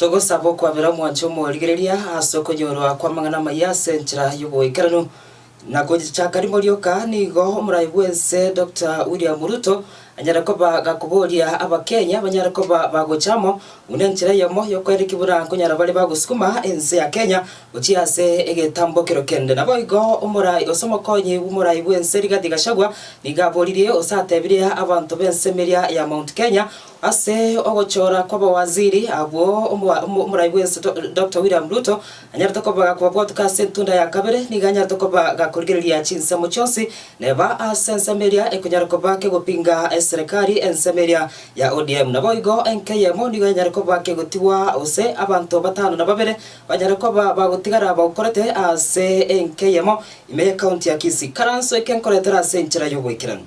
Togosaba okwabera omwanche omorigereria ase okonyorwa kw'amang'ana amaya ase enchera y'oboikeranu, Na gochaka rimo rioka nigo omoraai bw'ense Dokta William Ruto anyare koba gakoboria Abakenya banyare koba bagocha amo buna enchera eyemo y'okoera ekibura nkonyara bare bagosukuma ense ya Kenya gochia ase egetambokero kende. Naboigo omoraai gose omokonyi bw'omoraai bw'ense Rigathi Gachagua nigo aboririe gose atebirie abanto b'ense emeria ya Mount Kenya Ase ogochora kw'abawaziri abwo, omorai bw'ense Doctor William Ruto anyarete koba kobabwatuka ase entunda ya kabere, nigo anyarete koba gakorigereria chinsemo chionsi neba ase ensemo eria ekonyara koba kegopinga eserekari, ensemo eria ya ODM. Naboigo enka eyemo nigo enyare koba kegotigwa gose abanto batano na babere banyare koba bagotigara bagokorete ase enka eyemo ime ye county ya Kisii. Karanso eke nkoretere ase enchera y'oboikeranu.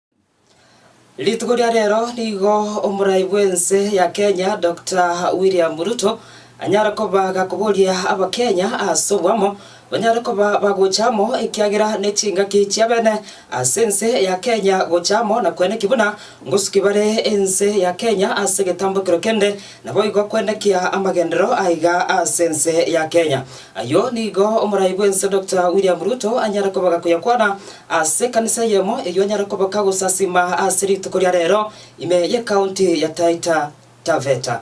Rituko ria rero nigo omorai bw'ense ya Kenya Dokta William Ruto anyare koba gakoboria abakenya ase obwamo banyare koba bagocha amo ekiagera ne chingaki chiabene ase ense ya Kenya gocha amo na kweneki buna ngosuki bare ense ya Kenya ase egetambokero kende naboigo kwenekia amagenderero aiga ase ense ya Kenya. Ayio nigo omorai bw'ense Doctor William Ruto anyare koba gakoyakwana ase ekanisa eyemo eyio anyare koba kagosasima ase rituko ria rero ime y'ecounty ya Taita Taveta.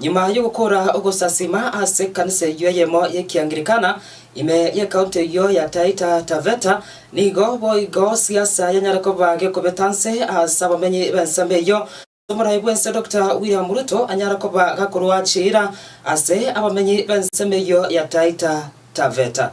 Nyuma y'ogokora ogosasima ase ekanisa eyio eyemo y'Ekianglikana ime y'ekaunti eyio ya Taita Taveta, nigo boigo siasa yanyare koba gekobeta nse ase abamenyi b'ensemo eyio. Ase omorai bw'ense Doctor William Ruto anyare koba gakorua chiira ase abamenyi b'ensemo eyio ya Taita Taveta.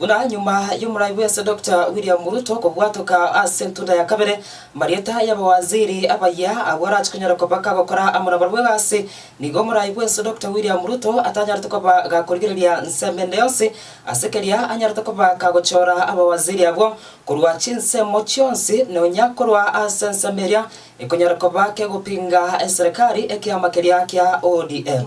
Buna nyuma y'omorai bwense Doctor William Ruto kobwatoka ase entunda ya kabere, amarieta y'abawaziri abayia agwo arache konyara kobaka gokora amo nabarabwo egasi, nigo omorai bwense Doctor William Ruto atanyarete koba gakorigereria nsemo ende yonsi, ase keria anyarete koba kagochora abawaziri abwo korwa chinsemo chionsi nonya korwa ase ensemo eria ekonyara koba kegopinga eserekari ekiama keria kia ODM.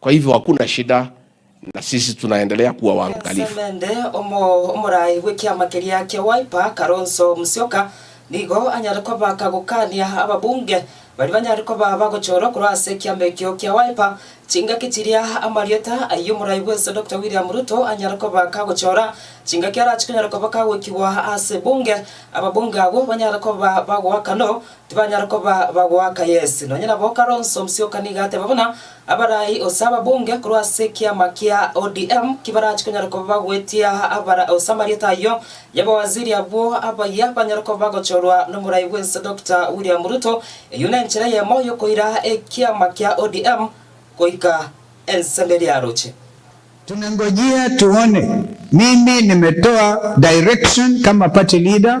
Kwa hivyo hakuna shida na sisi tunaendelea kuwa waangalifu. Ensemende, omoraai bw'ekiama keria kia Wiper, Kalonzo Musyoka, nigo anyare kobaka gokania ababunge baria banyare koba bagochorwa korwa ase ekiama ekio kia Wiper chingaki chiria. Amarieta ayio omoraai bw'ense Dokita William Ruto anyare koba kagochora chingaki arache konyara koba kagwekigwa ase ebunge. Ababunge abwo banyare koba bagoakanw Tibanyare koba bagoaka Yeso. Nonya nabo Kalonzo Musyoka nigo ateba buna abarai ose ababunge korwa ase ekiama kia ODM kibarachi konyara koba bagoetia abara ose amarieta ayio y'abawaziri abwo abayia banyare koba bagochorwa n'omorai bw'ense Doctor William Ruto. Eyio nenchera eyemo y'okoira ekiama kia ODM goika ense mberi yaroche. Tumengojea tuone, mimi nimetoa direction kama party leader.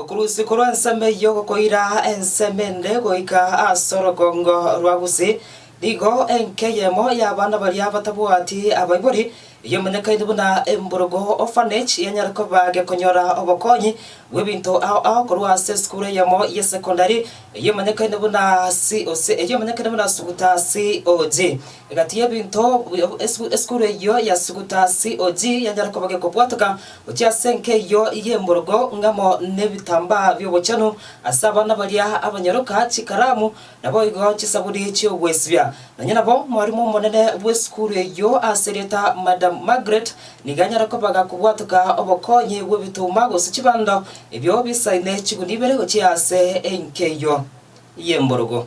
Okorusia korwa ensemo eyio gokoira ensemo ende goika ase orogongo rwa Gusi, nigo enka eyemo y'abana baria batabwati abaibori, eyomanyekaine buna Emburugu Orphanage, yanyara koba gekonyora obokonyi bw'ebinto ao ao korwa ase esukuru eyemo y'esekondari eyomanyekaine buna COG. Egati y'ebinto esukuru eyio ya Sukutasi Oji yanyare koba gekobwateka gochia ase enka eyio y'emborogo ng'amo nebitambaa bi'obochenu ase abana baria abanyaroka chikaramu, naboigo chisabuni chi'ogwesibia. Nonya nabo mwarimu omonene bw'esukuru eyio ase erieta Madam Margaret nigo anyare koba gakobwateka obokonyi bw'ebituma gose chibando ebio bisaine chiguni ibere gochia ase enka eyio y'emborogo.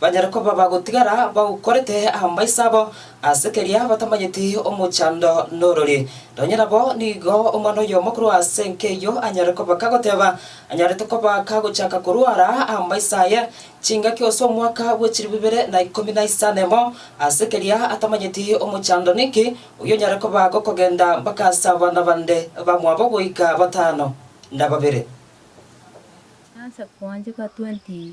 Banyare koba bagotigara bagokorete amaiso abo ase keria batamanyeti omochando norori. Nonye nabo nigo omwana oyomo korwa ase enka eyio anyare koba kagoteba anyarete koba kagochaka korwara amaiso aye chingaki ase omwaka bwe chilifu ibere na ikomi na isano emo ase keria atamanyeti omochando ninki oyio onyare koba gokogenda mpaka ase abana bande bamwabo goika batano na babere. Nase koancheka 20.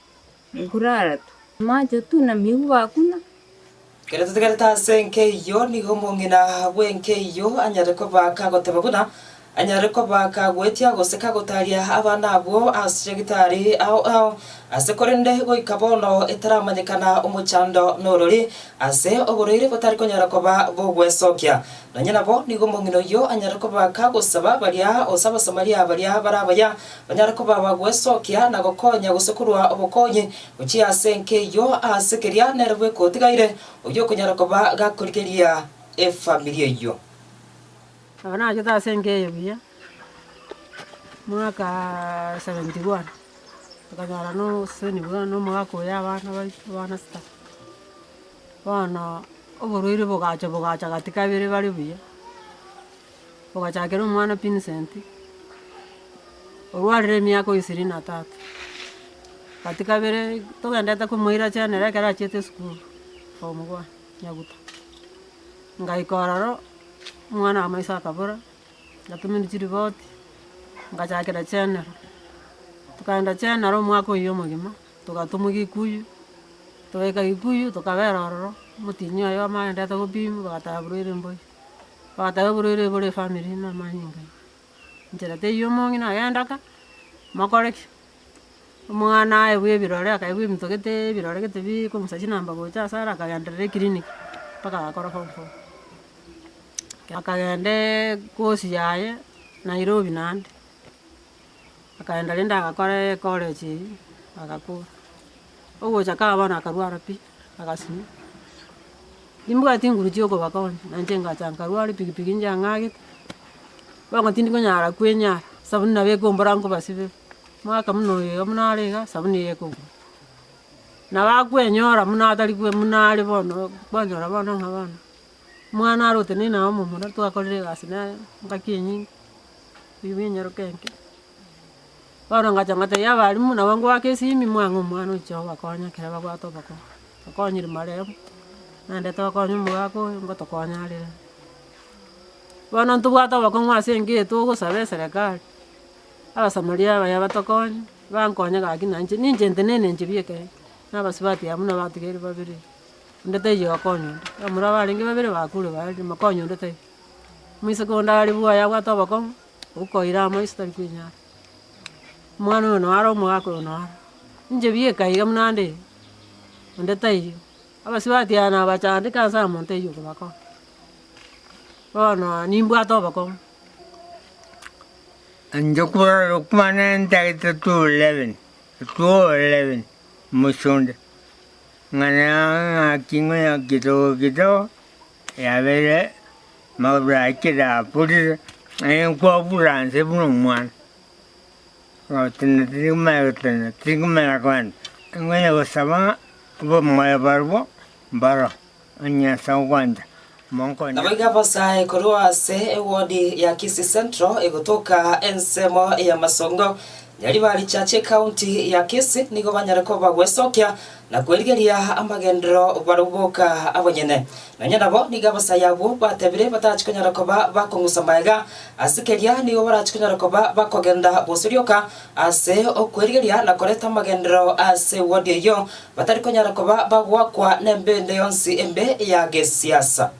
Ekurara tu. Amache tu na migu bakuna. Kere totegerete ase enkeiyo nigo omong'ina bw'enkeiyo anyare koba kagoteba buna anyare koba kagoetia gose kagotaria abana abwo ase gitari ao ao ase korende goika bono etaramanyekana omochando n'orori ase oboreire botari konyara koba bogwesokia. Nonye nabo nigo omong'ina oyio anyare koba kagosaba baria gose Abasamaria baria barabaya Banyare koba abagwesokia na gokonya gose korwa obokonyi gochia ase enka eyio, aase keria nere bweka otigaire oyio okonyara koba gakorigeria efamiri eyio. Nabo nachete ase enka eyio buya, mwaka seventy one tokanyora na oboseseni buna na omogaka oyo abana baito, abana sita. Bono oborwaire bogacha bogacha gati kabere bare buya. ogachakera omwana Vincent, orwarire emiaka o ishirini na tatu. Gati kabere togendete komoiracheria nere ekero achiete esukuru, form one, Nyabuto. Ngaika ororo, omwana wa maiso akabora, ngatumerwa chiripoti, ngachakera general. Tokaenda general omwaka oyio omogima, togatomwa Kikuyu, togaika Kikuyu tokabera ororo, omotinyi oye wamanyete gopimwa, bagatabwa Ruiru Mboya. Ogoteba oborwaire bore efamiri na amanyinga aye. Inchera teiyo omong'ina na agenda ka, mokore ki? Omwana aye bwa ebirore akaigwa ebinto gete ebirore gete biko omosacha namba gocha ase are akagenderera eclinic mpaka agakora form four. Akagenda ecourse yaye Nairobi naende, akaenda rende agakora ecollege eyio agakwa. Ogocha kaba bono akarwara pi. Agasibwa. Timbwati inguru chi'okobakonya, na inche ngacha nkarwara epikipiki njang'agete, bono tindi konyara kwenyara, esabuni nabo ekombora nkobasibere, omwaka buna oyo iga buna are iga, esabuni iga ekobura. Nabo akwenyora buna atari kwe- buna are bono, kwanyora bono ng'a bono, omwana are oteneine aye omomura, twakorire egasi nere, engaki enyinge, ebibe enyaroke enke. Paulo agacha agateebia abalimu, Nabo ngoaka esimi moang'e omwana oche obakonya ekero babwate obokong'u. Tokonyire maremo, naende tokonye omogaka oyo, ngotokonyarere. Bono ntobwate obokong'u ase enka eye togosaba eserekari, Abasamaria abaya batokonye, bankonye gaki na inche, ninche ntenena enchera ya ekeene, na abasubati abwo buna abatigaire babere, onde taiyo okonya onde. Ekero muna abarenge babere bakure, baria, mokonye onde taiyo. Omoiseke onde are buoyo abwate obokong'u. Okoira amaiso tari kwenyara. Omwana oyo noara omogaka oyo noara. Inche bieka iga buna nde onde taiyo. Abasubati aya nabachandeka ase amonto aywo kobakora. Bono nimbwate obokong'u. Inche korora okwana entagete torerebi torerebi mochie onde. Ng'ana ng'aki ng'oyaki togoki togo yabeire. Maburakire aburire, aye nkobura nse buna omwana. Gotenena tiri komanya gotenena, tiri komanya kogenda. Nkonya gosaba abamoyo barabwo mbaro, onye ase ogwancha, monkonye. Naboigo abasae korwa ase ewodi ya Kisii Central egotoka ensemo ya Masongo, Nyaribari Church, County ya Kisii nigo banyare koba gwesokia na kwerigeria amagenderero barabwo boka abanyene, nonya nabo nigo abasaya abwo batebire batachia konyara koba bakong'usa magega, ase keria nigo barachia konyara koba bakogenda bose rioka ase okwerigeria na koreta amagenderero ase wodi eyio, batari konyara koba bagoakwa nembende yonsi embe ya gesiasa.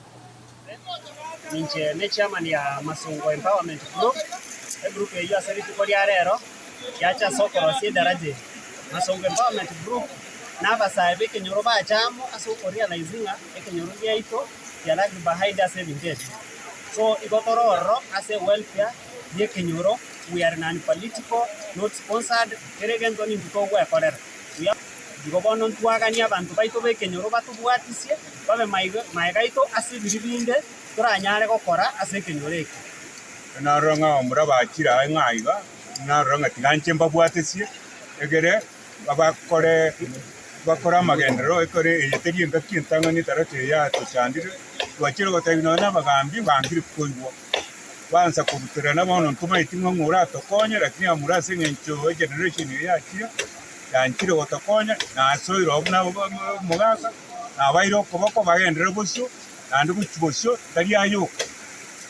Ninche ne chairman ya Masongo Empowerment Group. Egroup eyio ase rituko ria rero yacha ase okorosia edaraja eri. Masongo Empowerment Group na abasae b'ekenyoro bacha amo ase okorealize ng'a ekenyoro giaito kia lag behind ase ebinto ebi. So igo tore ororo ase welfare y'ekenyoro, we are non political, not sponsored, kera egento ninto togwekorera. We are. Igo bono ntwaganie abanto baito b'ekenyoro batobwatisie, babe maega aito ase ebibe binde toranyare gokora ase ekenyoro eke. Narora ng'a abamura abachire aye ng'a aiga, narora ng'a tiga nche mbabwatesie, egere bakore bakore amagenderero ekero eye teri engaki entang'ani etarato eye yatochandire, twachire gotebia nonya na abagambi bangire koigwa, baansa kobuterana bono ntomaeti ng'a ng'a oratokonye, rakini abamura ase eng'encho generation eye yachire. yanchire gotokonya, na asoire obo nabo omogaka, nabaire okoboko bagenderere bosio, naende gochia bosio tari ayoka,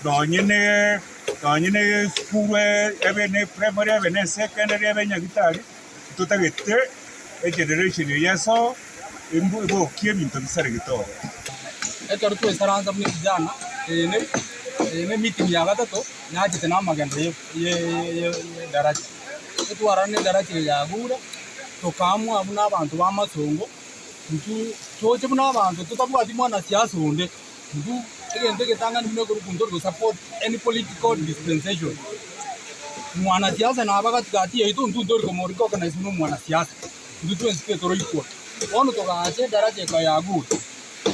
nonye ne nonye ne esukuru ebe ne eprimary ebe ne esecondary ebe nyagitari, ntotagete egeneration eye esoo embu ebokie ebinto bisaregete oo. Ekero twesaransa buna evijana, eye ne eye ne emeeting ya gatato, nachete na amagendo ye ye ye ye edaraja. Twarora nedaraki eye yagure, tokaamua buna abanto b'amasongo, intwe tooche buna abanto totabwati mwanasiasa onde, intwe egento egetang'ani buna egurupu ntori kosupport any political dispensation. Mwanasiasa naba gati gati yaito intwe ntori komorecognize buna omwanasiasa, intwe twensi toro equal. Bono togaacha edaraki eke yagure,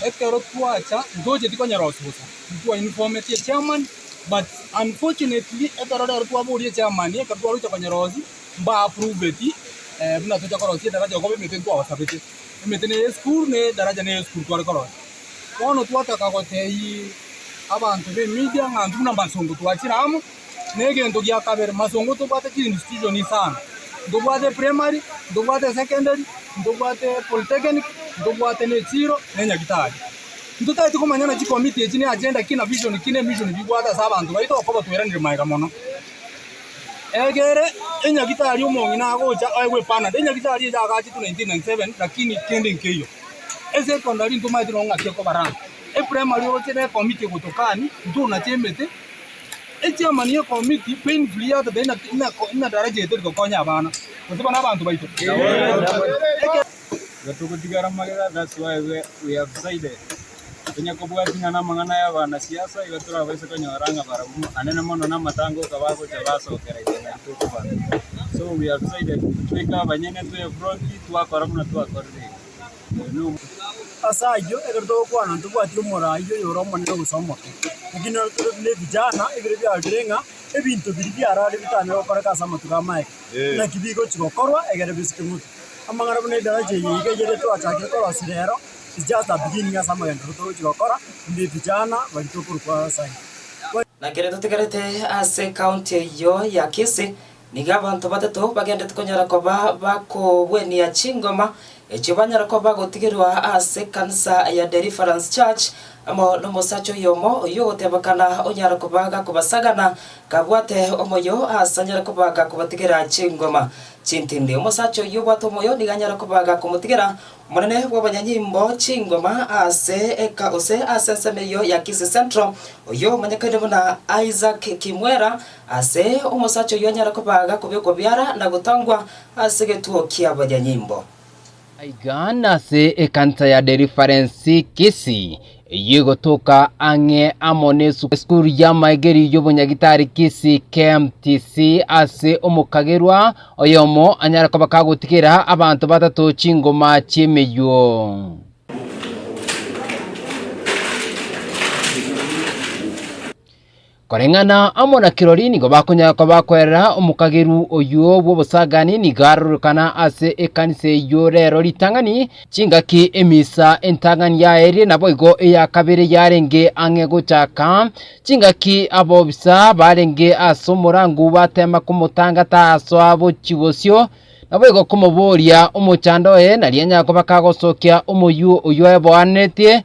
ekero twacha, ntoocheti konyora osugusa, intwe twa inform'etie chairman. But unfortunately ekero rero twaboria chairman ekero twaruete konyerosia mba approveti eh, buna tocha korosia edaraja okoba emete ntwabasabete. Emete ne eye school ne edaraja ne eye school tware korosia. Bono twataka gotebia abanto be media ng'a intwe buna masongo twachire amo. Na egento gia kabere masongo ntobwate chi institution sana. Ntobwate primary, ntobwate secondary, ntobwate polytechnic, ntobwate ne echiro, ne nyagetari. Intotagete komanya ng'a chikomiti echi ne agenda ki na vision ki n'emission bibwate ase abanto baito okobua tweranire maega mono. Egere enyagitari omong'ina agocha aye gwepanadia enyagitari eye agachetwe 1997 lakini kende nkeiyo. Esecondary ntomaete nonye ng'aki ekobaranga, eprimary oroche ne ekomiti egotokani ntona chiemete, echairman ye ekomiti painfully yateba ina ina ina daraja eye terikokonya abana gose buna abanto baito. Igo togotigara amagega, that's why we have decided tonya kobwatia ng'a namang'ana y'abana siasa igo torabaise konyora ng'a barabwo anene mono na amatango oka bagocha basokera ime nari tokobana. So we have decided tweke abanyene to front twakora buna twakorire iga. Ase ayio ekero togokwana ntobwati omorai oyo ore omonene gose omoke. Naki nero tore buna ebijana ebire biarorire ng'a ebinto biria biarare bitanyare gokoreka ase amatuko amaeke. Naki bigochi gokorwa ekero bisike motuko. Amang'ana buna edaraja eye iga eyere twachakire korosia rero, is just a beginning ase amagendo aria togochia gokora in the vijana baria tokorwa kwa Nyasaye. Na kere totigarete ase county eyio ya Kisii, nigo abanto batato bagenderete konyara koba bakogwenia chingoma echio banyara koba bagotigerwa ase ekanisa ya Deliverance Church, amo nomosacha oyomo oyio ogotebekana onyara koba gakobasagana kabwate omoyo aase anyare koba gakobatigera chingoma. Chintindi, omosacha oyio obwate omoyo nigo anyare kobaga komotigera omonene bw'abanyanyimbo chingoma ase eka gose ase ensemo eyio ya Kisii Central, oyio omanyekane buna Isaac Kimwera. Aase omosacha oyio anyare kobaga kobekwa biara na gotangwa ase egetuo ki'abanyanyimbo. Aiga nase ekanisa ya Deliverance Kisii, eyio egotoka ang'e amo n'esukuru y'amaegeri y'obonyagitari Kisii KMTC, ase omokagerwa oyomo anyare koba kagotigera abanto batato chingoma chi'emeyuo. Koreng'ana amo na kirori nigo bakonyara koba kwerera omokageru oyio bw'obosagani nigo arorokana ase ekanisa eyio rero ritang'ani chingaki emisa entang'ani yaeire naboigo eya kabere yarenge ang'e gochaka chingaki abobisa barenge ase omorango bateema komotangata asoa chibosio naboigo komoboria omochando oye nari anyare koba kagosokia omoyio oyio oeboanetie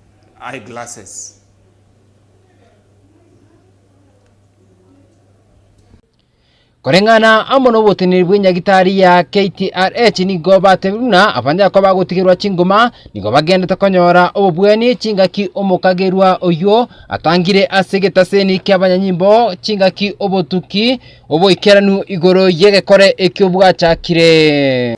Eye glasses. Koreng'ana amo noboteneneri bw'enyagitari ya KTRH nigo batebire buna abanyakoba bagotigerwa chingoma nigo bagendete konyora obobwani chingaki omokagerwa oyio atangire ase egetaseni ki'abanyanyimbo chingaki obotuki oboikeranu igoro y'egekore ekio bwachakire.